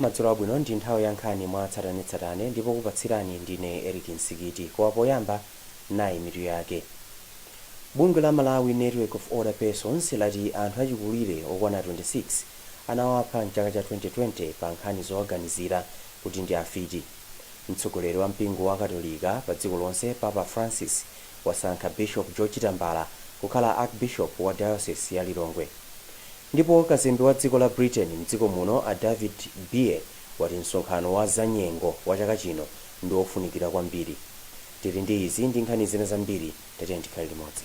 Madzulo abwino ndi nthawi ya nkhani mwa tsatanetsatane ndipo okupatsirani ndine Eric Nsikiti koma poyamba nayi mitu yake. Bungwe la Malawi Network of Older Persons lati anthu achikulire okwana 26 anawapha m'chaka cha 2020 pa nkhani zowaganizira kuti ndi afiti. Mtsogoleri wa mpingo wa katolika pa dziko lonse Papa Francis wasankha Bishop George Tambala kukhala Archbishop wa Diocese ya Lilongwe. Ndipo kazembe wa dziko la Britain mdziko muno a David Beer wati msonkhano wa za nyengo wa chaka chino ndi ofunikira kwambiri. Tili ndi izi ndi nkhani zina zambiri tatiyeni tikhale limodzi.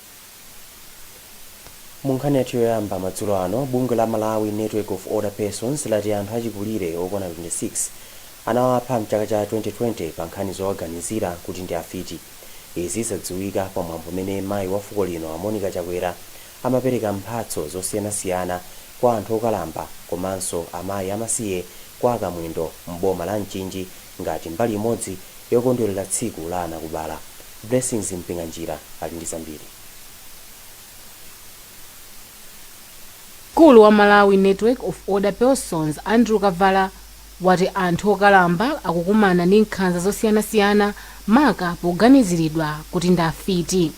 Mu nkhani yathu yoyamba madzulo ano, bungwe la Malawi Network of Older Persons lati anthu achikulire okwana 26 anawapha mchaka cha 2020 pa nkhani zowaganizira kuti ndi afiti. Izi zadziwika pa mwambo umene mayi wa fuko lino a Monica Chakwera amapereka mphatso zosiyanasiyana kwa anthu okalamba komanso amayi amasiye kwa a Kamwendo m'boma la Mchinji ngati mbali imodzi yokondwerera tsiku la anakubala. Blessings Mpinganjira ali ndi zambiri. Mkulu wa Malawi Network of Older Persons, Andrew Kavala, wati anthu okalamba akukumana ndi nkhanza zosiyanasiyana maka poganiziridwa kuti ndi afiti.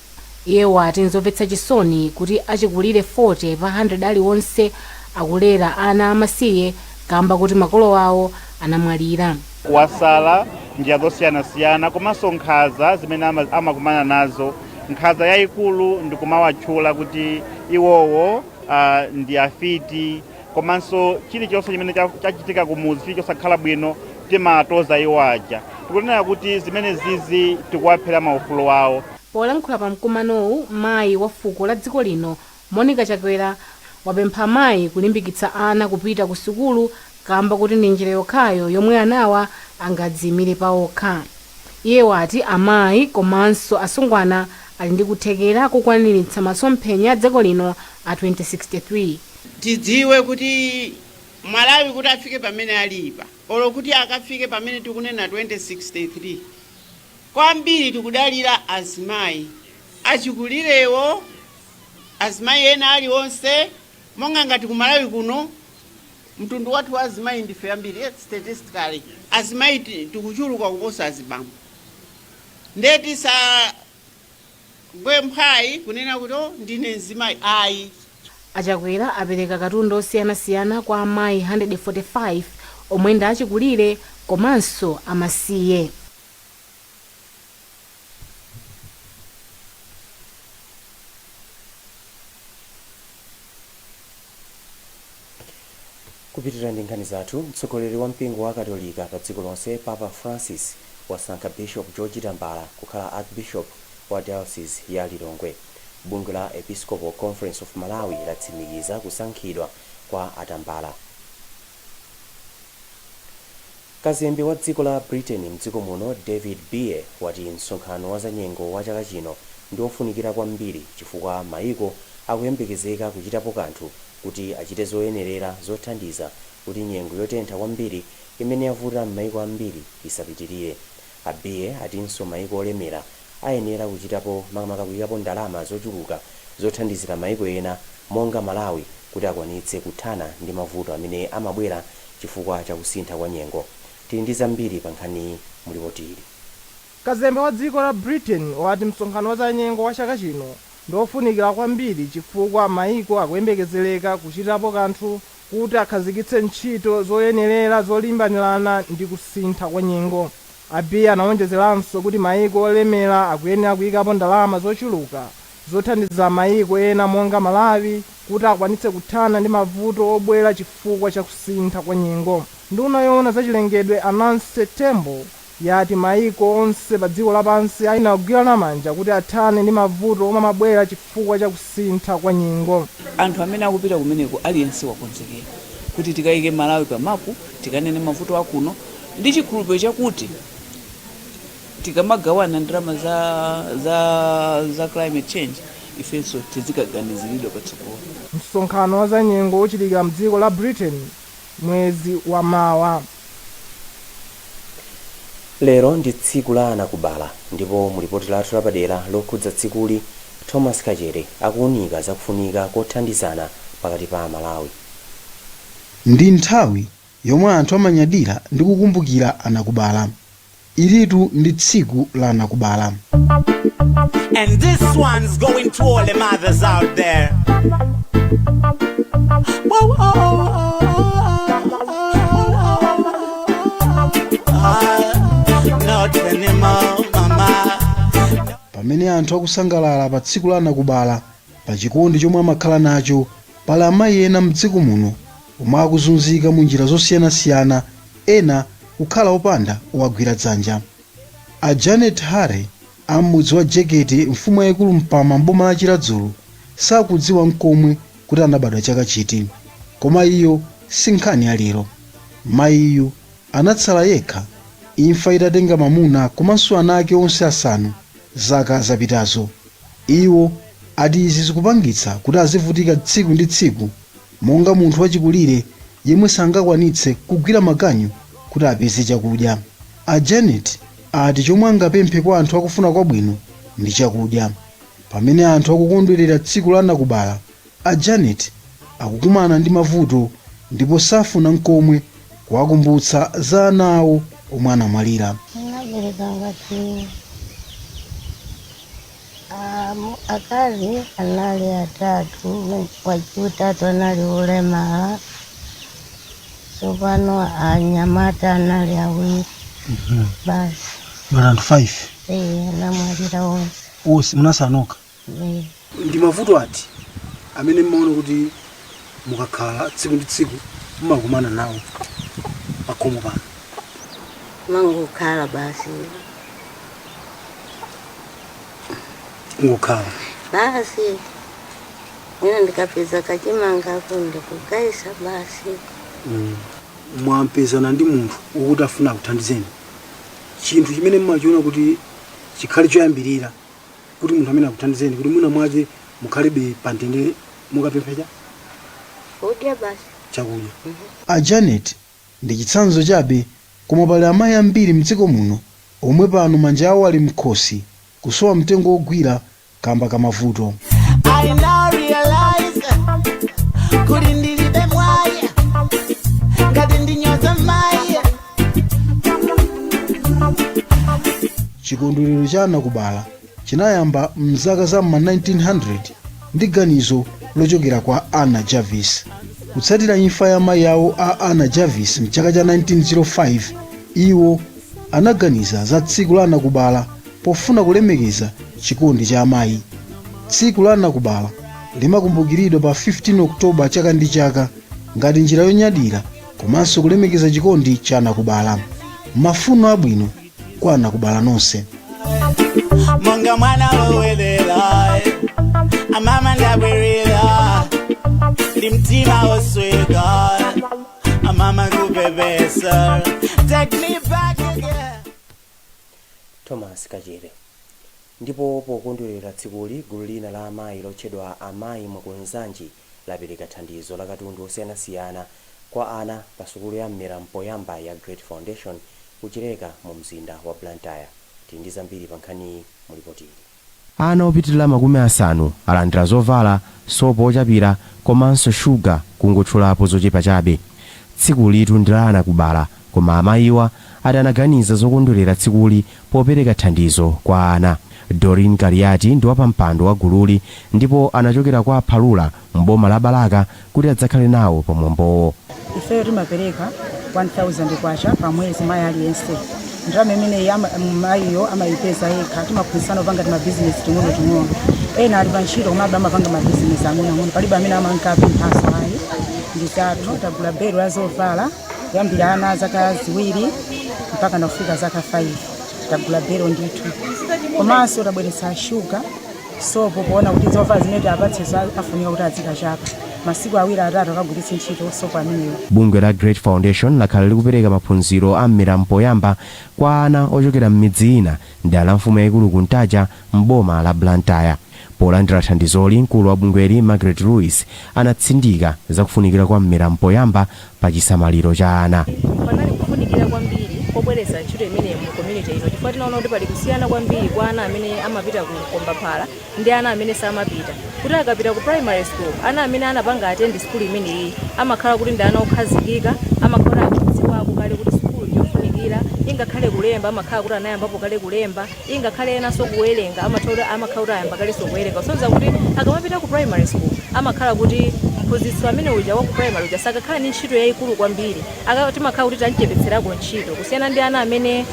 Iye wati nzomvetsa chisoni kuti achikulire 40 pa 100 aliwonse akulera ana amasiye kamba kuti makolo awo anamwalira. kuwasala, njira zosiyanasiyana komanso nkhaza zimene ama- amakumana nazo. Nkhaza yayikulu ndi kumawatchula kuti iwowo ah, ndi afiti komanso chilichonse chimene cha- chachitika kumuzi chili chosakhala bwino timawatoza iwo aja tikunena kuti zimene zizi tikuwaphera maufulu awo Polankhula pa mkumanowu, mayi wa fuko la dziko lino Monica Chakwera wapempha amayi kulimbikitsa ana kupita ku sukulu kamba kuti ndi njira yokhayo yomwe anawa angadziimire paokha. Iye wati amayi komanso asungwana ali ndi kuthekera kukwaniritsa masomphenya a dziko lino a 2063. Tidziwe kuti Malawi kuti afike pamene alipa olo kuti akafike pamene tikunena 2063 kwambiri tikudalira azimayi achikulirewo. azimayi ena aliwonse monga ngati ku malawi kuno mtundu wathu wa azimayi ndife ambiri eh, statistically azimayi ti- tikuchuluka kuposa azibambo nde tisagwe mphwayi kunena kuti "Oh, ndine mzimayi ayi a Chakwera apereka katundu osiyanasiyana kwa amayi 145 omwe ndi achikulire komanso amasiye Kupitirira ndi nkhani zathu, mtsogoleri wa mpingo wa katolika pa dziko lonse Papa Francis wasankha Bishop George Tambala kukhala Archbishop wa Diocese ya Lilongwe. Bungwe la Episcopal Conference of Malawi latsimikiza kusankhidwa kwa a Tambala. Kazembe wa dziko la Britain m'dziko muno David Beer wati msonkhano wa zanyengo wa chaka chino ndi ofunikira kwambiri chifukwa maiko akuyembekezeka kuchitapo kanthu kuti achite zoyenerera zothandiza kuti nyengo yotentha kwambiri imene yavuta m'maiko ambiri isapitilire. A Beer atinso maiko olemera ayenera kuchitapo makamaka kuikapo ndalama zochuluka zothandizira maiko ena monga Malawi kuti akwanitse kuthana ndi mavuto amene amabwera chifukwa cha kusintha kwa nyengo. Tili ndi zambiri pa nkhaniyi mu lipoti ili. Kazembe wa dziko la Britain wati msonkhano wa zanyengo wa chaka chino ndi ofunikira kwambiri chifukwa maiko akuyembekezereka kuchitapo kanthu kuti akhazikitse ntchito zoyenerera zolimbanirana ndi kusintha kwa nyengo. A Beer anawonjezeranso kuti mayiko olemera akuyenera kuyikapo ndalama zochuluka zothandiza mayiko ena monga Malawi kuti akwanitse kuthana ndi mavuto obwera chifukwa cha kusintha kwa nyengo. Nduna yowona za chilengedwe a Nancy Tembo yati maiko onse padziko lapansi ayenera kugwirana manja kuti athane ndi mavuto omwe amabwera chifukwa cha kusintha kwa nyengo. Anthu amene akupita kumeneko aliyense wakonzekera kuti tikaike Malawi pa mapu, tikanene mavuto a kuno ndi chikhulupiriro chakuti tikamagawana ndalama za za za climate change ifenso tizikaganiziridwa patsogolo. Msonkhano wa zanyengo uchitikira m'dziko la Britain. mwezi wa mawa. Lero ndi tsiku la anakubala ndipo mu lipoti lathu lapadera lokhudza tsikuli, Thomas Kachere akuunika za kufunika kothandizana pakati pa Amalawi. Ndi nthawi yomwe anthu amanyadira ndi kukumbukira anakubala. Ilitu ndi tsiku la anakubala. And this one's going to all the mothers out there. Whoa, oh, oh, oh, oh, not anymore, mama. pamene anthu akusangalala pa tsiku la anakubala pa chikondi chomwe amakhala nacho pali amayi ena mdziko muno omwe akuzunzika mu njira zosiyanasiyana ena kukhala opanda owagwira dzanja. A Janet Hare a m'mudzi wa Jekete, mfumu yaikulu Mpama m'boma la Chiradzulu sakudziwa n'komwe kuti anabadwa chaka chiti. Koma iyo si nkhani ya lero. Mayiyu anatsala yekha imfa itatenga mamuna komanso ana ake onse asanu zaka zapitazo. Iwo ati izi zikupangitsa kuti azivutika tsiku ndi tsiku. Monga munthu wachikulire yemwe sangakwanitse kugwira maganyu kuti apeze chakudya, a Janet ati chomwe angapemphe kwa anthu akufuna kwabwino ndi chakudya. Pamene anthu akukondwerera tsiku la anakubala, a Janet akukumana ndi mavuto ndipo safuna nkomwe kuwakumbutsa za ana awo omwe anamwalira. Ndinabereka ngati Akazi anali atatu, wachiutatu anali wolemala, sopano anyamata anali awiri basi. Ana 5 Eh, anamwalira onse. onse munatsala nokha. Eh. Ndi mavuto ati amene mmaona kuti mukakhala tsiku ndi tsiku mumakumana nawo pakhomo pano ndimangokhala basi kungokhala basi mwina ndikapeza kachimanga kunde kukagaitsa basi mm. mutapezana ndi munthu wokuti afuna akuthandizeni chinthu chimene mmachiona kuti chikhale choyambirira kuti munthu amene akuthandizeni kuti mwina mwake mukhalebe pa mtendere mukapempha chani Kudya basi. chakudya A Janet ndi chitsanzo chabe koma pali amayi ambiri mdziko muno omwe pano manja awo ali mkhosi kusowa mtengo wogwira kamba ka mavuto. I now realize kuti ndilibe mwayi ngati ndinyoza mayi chikondwerero cha anakubala chinayamba mzaka za ma 1900 ndi ganizo lochokera kwa anna jarvis kutsatira imfa ya mayi awo a anna jarvis mchaka cha 1905 iwo anaganiza za tsiku la anakubala pofuna kulemekeza chikondi cha amayi tsiku la anakubala limakumbukiridwa pa 15 oktoba chaka ndi chaka ngati njira yonyadira komanso kulemekeza chikondi cha anakubala. Mafuno abwino kwa anakubala nonse. monga mwana wolowelera amama ndabwerera ndi mtima wosweka amama kupepesa take me back again thomas kachere ndipo pokondwerera tsikuli gulu lina la amayi lotchedwa amayi mwakunzanji lapereka thandizo la katundu osiyanasiyana kwa ana pa sukulu ya m'mera mpoyamba ya Great Foundation ku Chileka mu mzinda wa Blantyre. Tili ndi zambiri pa nkhaniyi mu lipoti ili. Ana opitilira makumi asanu alandira zovala, sopo ochapira komanso shuga kungotchulapo zochepa chabe. Tsikulitu ndi la anakubala Koma amayiwa ati anaganiza zokondwelera tsikuli popereka thandizo kwa ana. Doreen Kaliati ndi wapampando wa gululi ndipo anachokera kwa Phalula m'boma la Balaka kuti adzakhale nawo pa mwambowo. Ifeyo timapereka K1000 pa mwezi mayi aliyense. Ndalama imeneyi mayiyo amayipeza yekha. Timaphunzitsana kupanga timabizinesi ting'onoting'ono. Ena ali pa ntchito komabe amapanga mabizinesi ang'onoang'ono. Palibe amene amankapemphanso ayi. Ndi tathu, tagula belo la zovala. kuyambira ana a zaka ziwiri mpaka nakufika zaka 5 tagula belo ndithu komanso tabweretsa shuga sopo poona kuti zovala zimene tiwapatsezo afunika kuti azikachapa masiku awiri atatu akagwiritse ntchito sopo ameneyo bungwe la great foundation lakhala likupereka maphunziro a m'mera mpoyamba kwa ana ochokera m'midzi ina mdera la mfumu yayikulu kuntaja m'boma la blantyre Polandira thandizoli, mkulu wa bungweli Margaret Ruiz anatsindika za kufunikira kwa m'mera mpoyamba pa chisamaliro cha ana. Panali kufunikira kwambiri pobweretsa ntchito imeneyi mu community ino chifukwa tinaona kuti pali kusiyana kwambiri kwa ana amene amapita ku mkombaphala ndi ana amene samapita. Kuti akapita ku primary school, ana amene anapanga attend sukulu imeneyi amakhala kuti ndi ana okhazikika, amakhala kuti akudziwako kale kuti sukulu ndi yofunikira, ingakhale kulemba amakhala kuti anayambapo kale kulemba. ingakhale enanso kuwerenga amakhala kuti ayamba kalenso kuwerenga kusonyeza kuti akamapita ku primary school amakhala kuti mphunzitsi amene uja wa ku primary uja sakakhala ndi ntchito yayikulu kwambiri Aka- timakhala kuti tamchepetserako ntchito kusiyana ndi ana amene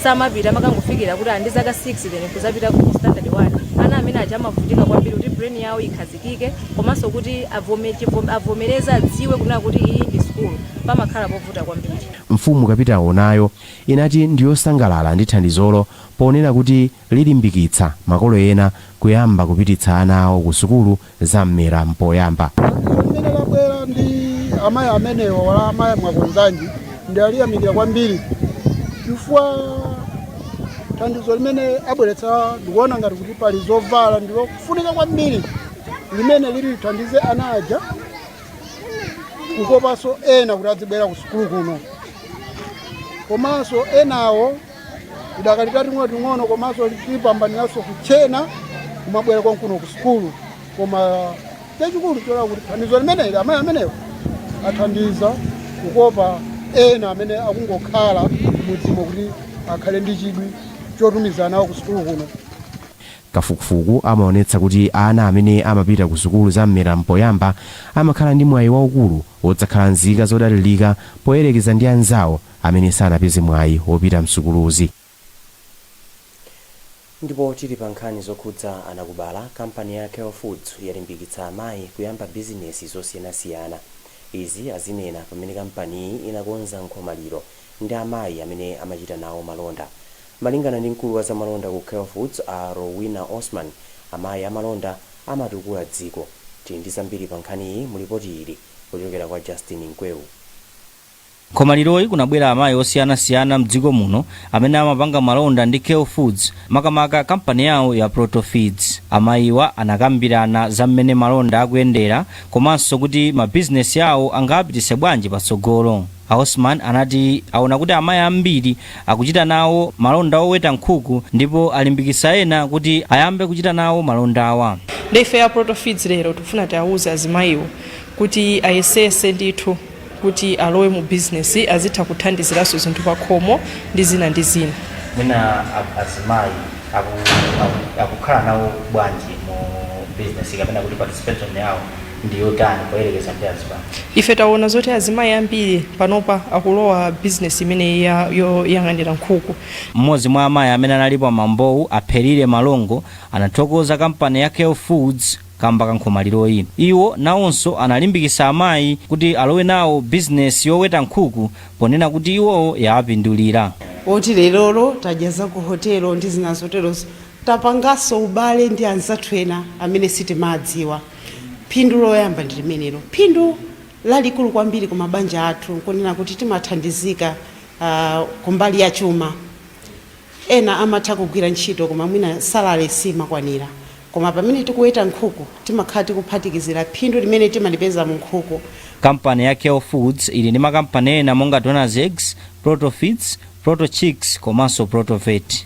samapita amakangofikira kuti ali ndi zaka 6 then kuzapita ku standard 1 ana amene aja amavutika kwambiri kuti brain yawo ikhazikike komanso kuti avome- chivom- avomereze adziwe kunena kuti iyi ndi school pamakhala povuta kwambiri mfumu kapitawo nayo inati ndi yosangalala ndi thandizolo ponena kuti lilimbikitsa makolo ena kuyamba kupititsa ana awo ku sukulu za m'mera mpoyamba. Thandizo limene labwera ndi amayi amenewa la Amayi Mwakunzanji ndaliyamikira kwambiri chifukwa thandizo limene abweretsa ndikuona ngati kuti pali zovala ndilofunika kwambiri limene liti lithandize ana aja kukopanso ena kuti adzibwera ku sukulu kuno komanso enawo tidakali tating'ono ting'ono komanso tipambaniranso kutchena kumabwera konkuno ku sukulu koma chachikulu choti kuti thandizo limeneli amayi amenewo athandiza kukopa ena amene akungokhala m'mudzimo kuti akhale ndi chidwi chotumiza anawo ku sukulu kuno Kafukufuku amaonetsa kuti ana amene amapita ku sukulu za m'mera m'poyamba amakhala ndi mwayi waukulu wodzakhala nzika zodalirika poyerekeza ndi anzawo amene sanapeze mwayi wopita m'sukuluzi. Ndipo tili pa nkhani zokhudza anakubala, kampani ya Kell Foods yalimbikitsa amayi kuyamba bizinesi zosiyanasiyana. Izi azinena pamene kampaniyi inakonza nkhomaliro ndi amayi amene amachita nawo malonda. Malingana ndi mkulu wa zamalonda ku Kell Foods a Rowena Osman, amayi amalonda amatukula dziko. Tili ndi zambiri pa nkhaniyi mu lipoti ili kuchokera kwa Justin Mkweu. Nkhomaliroyi kunabwera amayi osiyana siyana mdziko muno amene amapanga malonda ndi Kell Foods makamaka kampani yawo ya Proto Feeds. Amayiwa anakambirana za mmene malonda akuyendera komanso kuti mabizinesi awo angawapititse bwanji patsogolo. A Osman anati aona kuti amayi ambiri akuchita nawo malonda oweta nkhuku ndipo alimbikitsa ena kuti ayambe kuchita nawo malondawa. Nde ifeyo a Proto Feeds lero tifuna tiwauze azimayiwo kuti ayesetse ndithu kuti alowe mu business azitha kuthandiziranso zinthu pakhomo ndi zina ndi zina. Mwina azimayi akukhala nawo bwanji mu business kapena kuti participation yawo. ndi yotani poyerekeza ndi azibambo? Ife taona zoti azimayi ambiri panopa akulowa business imeneyi yoyang'anira nkhuku. M'modzi mwa amayi amene analipo pa mwambowu, a Pherile Malongo, anathokoza kampani ya Kell Foods kamba ka nkhomaliroyi. Iwo nawonso analimbikitsa amayi kuti alowe nawo business yoweta nkhuku ponena kuti iwowo yawapindulira. oti lerolo tadya za ku hotelo ndi zina zoterozo, tapanganso ubale ndi anzathu ena amene sitimawadziwa. Phindu loyamba ndi limenelo. Phindu lalikulu kwambiri ku mabanja athu nkunena kuti timathandizika ah, kumbali ya chuma. Ena amatha kugwira ntchito koma mwina salale simakwanira, koma pamene tikuweta nkhuku timakhala tikuphatikizira phindu limene timalipeza mu nkhuku. Kampani ya Kell Foods ili ndi makampani ena monga Donna's Eggs, Proto Feeds, Proto Chicks komanso Proto Vet.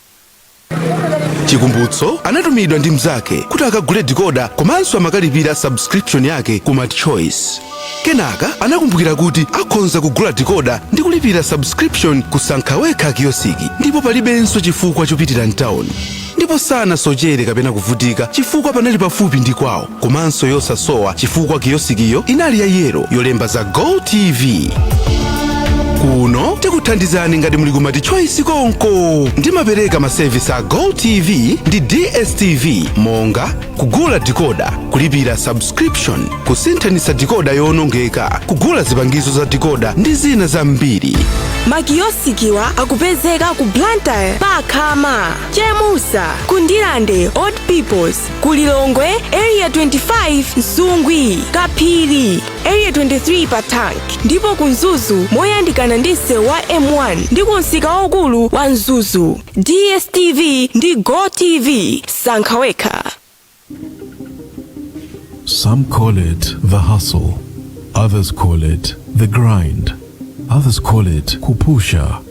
chikumbutso anatumidwa ndi mnzake kuti akagule dikoda komanso amukalipire subscription yake ku MultiChoice kenaka anakumbukira kuti akhonza kugula dikoda ndi kulipira subscription ku Sankha Wekha kiyosiki ndipo palibenso chifukwa chopitira mtawuni ndipo sanasochere kapena kuvutika chifukwa panali pafupi ndi kwawo komanso yosasowa chifukwa kiyosikiyo inali ya yelo yolemba za gotv kuno tikuthandizani ngati muli ku MultiChoice konko timapereka masevisi a gotv ndi dstv monga kugula dikoda kulipira subscription kusinthanitsa dikoda yowonongeka kugula zipangizo za dikoda ndi zina zambiri makiyosikiwa akupezeka ku blantyre pa khama chemusa ku ndirande old peoples ku lilongwe area 25 nsungwi kaphiri area 23 pa tank ndipo ku mzuzu moyandikana ndi msewu wa m1 ndi ku msika waukulu wa mzuzu dstv ndi gotv sankha wekha Some call it the hustle, others call it the grind, others call it kupusha,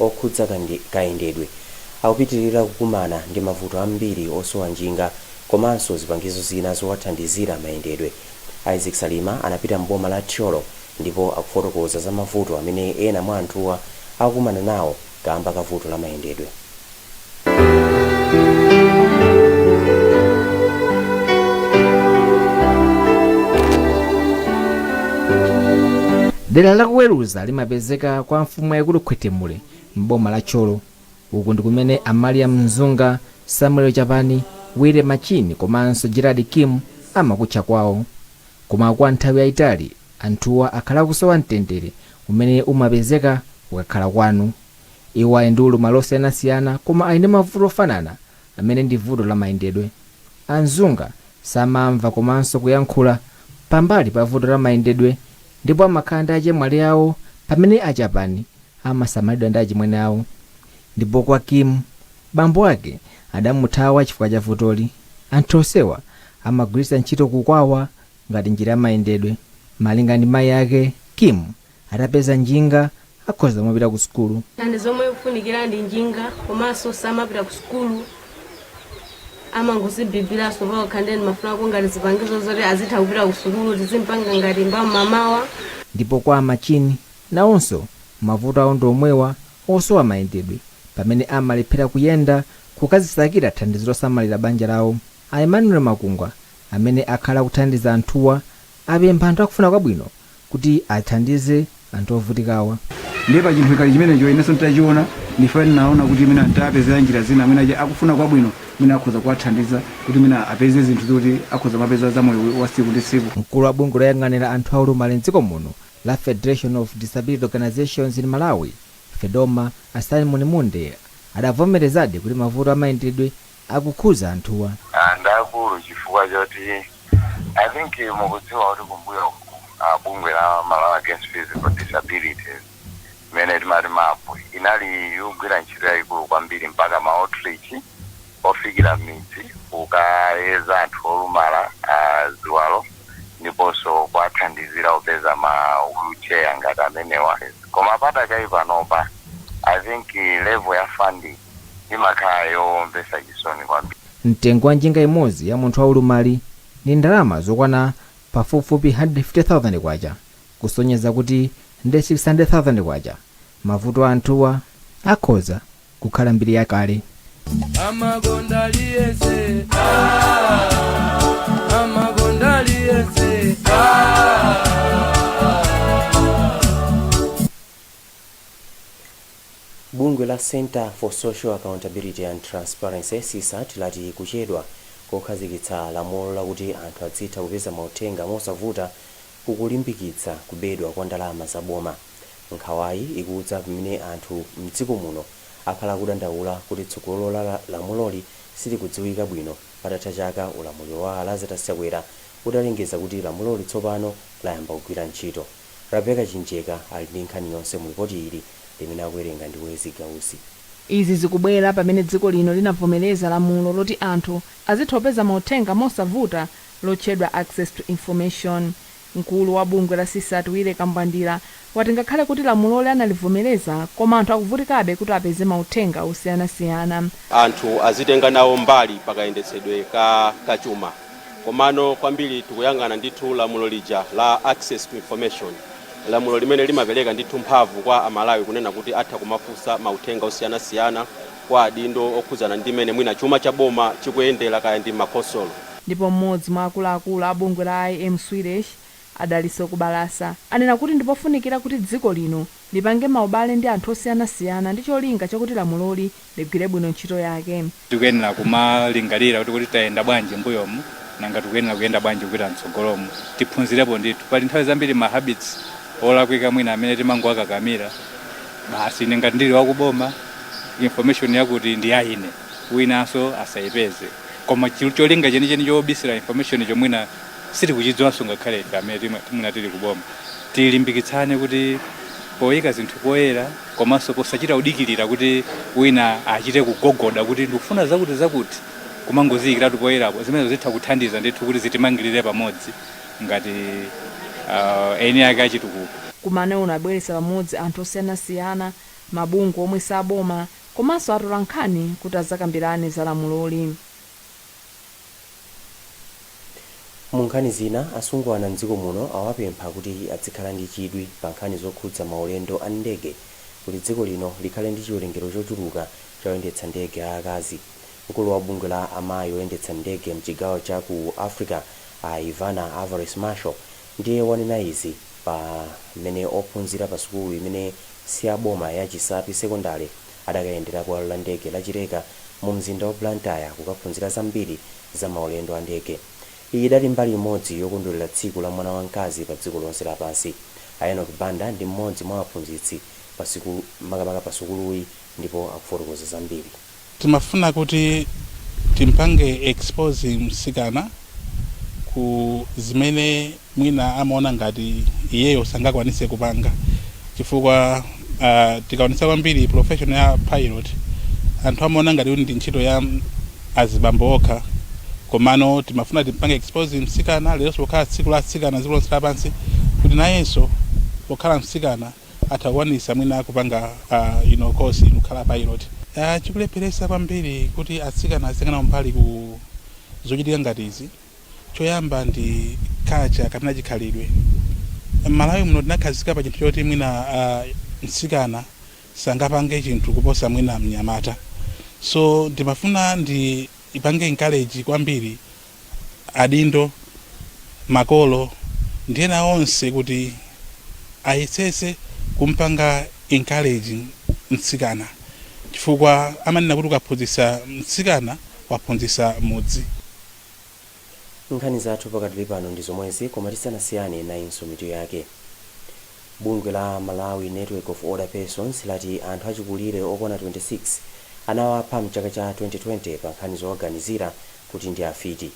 okhudza kayendedwe akupitilira kukumana ndi mavuto ambiri osowa njinga komanso zipangizo zina zowathandizira mayendedwe. Isaac Salima anapita m'boma la Thyolo ndipo akufotokoza za mavuto amene ena mwa anthuwa akukumana nawo kaamba ka vuto la mayendedwe. dera la kuweruza limapezeka kwa mfumu yaikulu khwetemule m'boma la tcholo uku ndi kumene a maria mzunga samuel chapani wire machini komanso gerard kim amakutcha kwawo koma kwa nthawi yayitali anthuwa akhala akusowa mtendere umene umapezeka ukakhala kwanu Iwo ali ndi ulumali osiyanasiyana koma ali ndi mavuto ofanana amene ndi vuto la mayendedwe. A Mzunga samamva komanso kuyankhula pambali pa vuto la mayendedwe ndipo amakhala ndi achemwali awo pamene a Chapani amasamalidwa ndi achimwene awo. Ndipo kwa Kim, bambo ake adamuthawa chifukwa cha vutoli. Anthu onsewa amagwiritsa ntchito kukwawa ngati njira ya mayendedwe. Malinga ndi mayi ake, Kim Atapeza njinga akhoza kumapita ku sukulu. Thandizo lomwe likufunikira ndi njinga komanso samapita ku sukulu amangozibibiranso pakekha ndiye ndimafunako ngati zipangizo zoti azitha kupita ku sukulu tizimpanga ngati m'mamawa. Ndipo kwa a Machini nawonso mavuto awo ndi omwewa osowa mayendedwe pamene amalephera kuyenda kukazisakira thandizo losamalira banja lawo. A Emmanuel Makungwa amene akhala akuthandiza anthuwa apempha anthu akufuna kwabwino kuti athandize anthu ovutikawa. Ndiye pa chinthu ngati chimenecho inenso nitachiona ndiye ndinaona kuti mwina nitapezela njira zina mwina akufuna kwabwino mwina akhoza kuwathandiza kuti mwina apeze zinthu zoti akhoza kumapeza za moyo wa siku ndi siku. Mkulu wa bungwe loyang'anira anthu a ulumali m'dziko muno la Federation of Disability Organisations in Malawi, Fedoma, a Simon Munde adavomerezadi kuti mavuto a mayendedwe akukhudza anthuwa. Ndi akulu chifukwa choti I think mukudziwa kuti kumbuyoku bungwe la Malawi against physical disabilities imene timati map inali yogwira ntchito yayikulu kwambiri mpaka ma outreach ofikira mmidzi kukayeza anthu olumala a ziwalo ndiponso kuwathandizira kupeza ma wheel chair ngati amenewa koma padakali panopa I think level ya funding imakhala yomvesa chisoni kwambiri. Mtengo wa njinga imodzi ya munthu wa ulumali ndi ndalama zokwana pafupifupi K150,000 kusonyeza kuti ndi K600,000. Mavuto a anthuwa akhoza kukhala mbiri ya kale. Bungwe la Centre for Social Accountability and Transparency, CSAT, lati kuchedwa kokhazikitsa lamulo lakuti anthu adzitha kupeza mauthenga mosavuta kukulimbikitsa kubedwa kwa ndalama za boma. Nkhawayi ikudza pamene anthu m'dziko muno akhala akudandaula kuti tsogolo la lamuloli silikudziwika bwino patatha chaka ulamuliro wa a Lazarus Chakwera utalengeza kuti lamuloli tsopano layamba kugwira ntchito. Rebecca Chimjeka ali ndi nkhani yonse mu lipoti ili limene akuwerenga ndi Wezzie Gausi. Izi zikubwera pamene dziko lino linavomereza lamulo loti anthu azitha kupeza mauthenga mosavuta lotchedwa Access to Information. Mkulu wa bungwe la CSAT Willy Kambwandira wati ngakhale kuti lamuloli analivomereza koma anthu akuvutikabe kuti apeze mauthenga osiyanasiyana. anthu azitenga nawo mbali pakayendetsedwe ka chuma. Komano kwambiri tikuyang'ana ndithu lamulo lija la access to information, lamulo limene limapereka ndithu mphamvu kwa Amalawi kunena kuti atha kumafunsa mauthenga osiyanasiyana kwa adindo okhudzana ndi mmene mwina chuma cha boma chikuyendera kaya ndi m'makhonsolo. Ndipo mmodzi mwa akuluakulu a bungwe la IM Swedish, a Dalitso Kubalasa, anena kuti ndi pofunikira kuti dziko lino lipange maubale ndi anthu osiyanasiyana ndi cholinga chakuti lamuloli ligwire bwino ntchito yake. tikuyenera kumalingalira kuti kuti tayenda bwanji mbuyomu nanga tikuyenera kuyenda bwanji kupita mtsogolomu tiphunzirepo ndithu pali nthawi zambiri ma habits olakwika mwina amene timangowakakamira basi ine ngati ndili wakuboma information yakuti ndi ya ine winanso asayipeze koma chi- cholinga chenicheni chobisira information chomwina sitikuchidziwanso ngakhale ife amene timwe- timwina tili kuboma tilimbikitsane kuti poyika zinthu poyera komanso posachita kudikirira kuti wina achite kugogoda kuti ndikufuna zakuti zakuti kumangoziyikiratu poyerapo zimenezo zitha kuthandiza ndithu kuti zitimangirire pamodzi ngati uh, eni ake achitukuko Mkumanowu unabweretsa pamodzi anthu osiyanasiyana, mabungwe omwe si aboma komanso atolankhani kuti adzakambirane za lamuloli. Mu nkhani zina, asungwana m'dziko muno awapempha kuti adzikhala ndi chidwi pa nkhani zokhudza maulendo a ndege kuti dziko lino likhale ndi chiwerengero chochuluka cha oyendetsa ndege a akazi. Mkulu wa bungwe la amayi oyendetsa ndege mchigawo cha ku Africa a Ivana Alvarez Marshall ndiye wanena izi pamene ophunzira pa sukulu imene siyaboma ya Chisapi Sekondale adakayendera bwalo la ndege la Chileka mu mzinda wa Blantyre kukaphunzira zambiri za maulendo a ndege. Iyi idali mbali imodzi yokondwerera tsiku la mwana wa mkazi pa dziko lonse lapansi. A Enock Banda ndi mmodzi mwa aphunzitsi pa sukulu makamaka pa sukuluyi ndipo akufotokoza zambiri. Timafuna kuti timpange expose msikana ku zimene. mwina amaona ngati iyeyo sangakwanise kupanga chifukwa uh, tikaonesa kwambiri profession ya pilot anthu amaona ngati ndi ntchito ya azibambo okha komano timafuna timpange expose msikana leronso pokhala tsiku la msikana dziko lonse lapansi kuti nayenso pokhala msikana atha kukwanisa mwina kupanga uh, ino kosi kukhala pilot uh, chikulepheresa kwambiri kuti atsikana azikana mbali ku zochitika ngati izi Choyamba ndi culture kapena chikhalidwe. M'Malawi muno tinakhazika pa chinthu choti mwina uh, msikana sangapange chinthu kuposa mwina mnyamata, so ndimafuna ndiwapange encourage kwambiri adindo, makolo ndi ena onse kuti ayesetse kumpanga encourage msikana chifukwa amanena kuti ukaphunzitsa mtsikana waphunzitsa mudzi. Nkhani zathu pakadali pano ndi zomwezi koma tisanasiyane nayinso mitu yake. Bungwe la Malawi Network of Older Persons lati anthu achikulire okwana 26 anawapha mchaka cha 2020 pa nkhani zowaganizira kuti ndi afiti.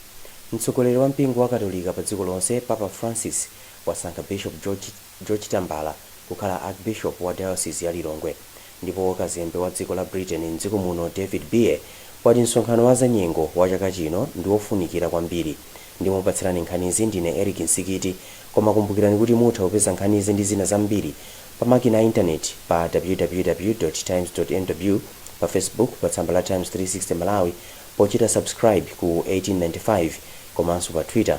Mtsogoleri wa mpingo wa katolika pa dziko lonse Papa Francis wasankha Bishop George. George Tambala kukhala Archbishop wa Diocese ya Lilongwe. Ndipo kazembe wa dziko la Britain m'dziko muno David Beer wati msonkhano wa zanyengo wa chaka chino ndi wofunikira kwambiri. Ndimakupatsirani nkhanizi ndine Eric Msikiti koma kumbukirani kuti mutha kupeza nkhanizi ndi zina zambiri pa makina a intaneti pa www.times.mw, pa Facebook pa tsamba la Times 360 Malawi pochita subscribe ku 1895 komanso pa Twitter.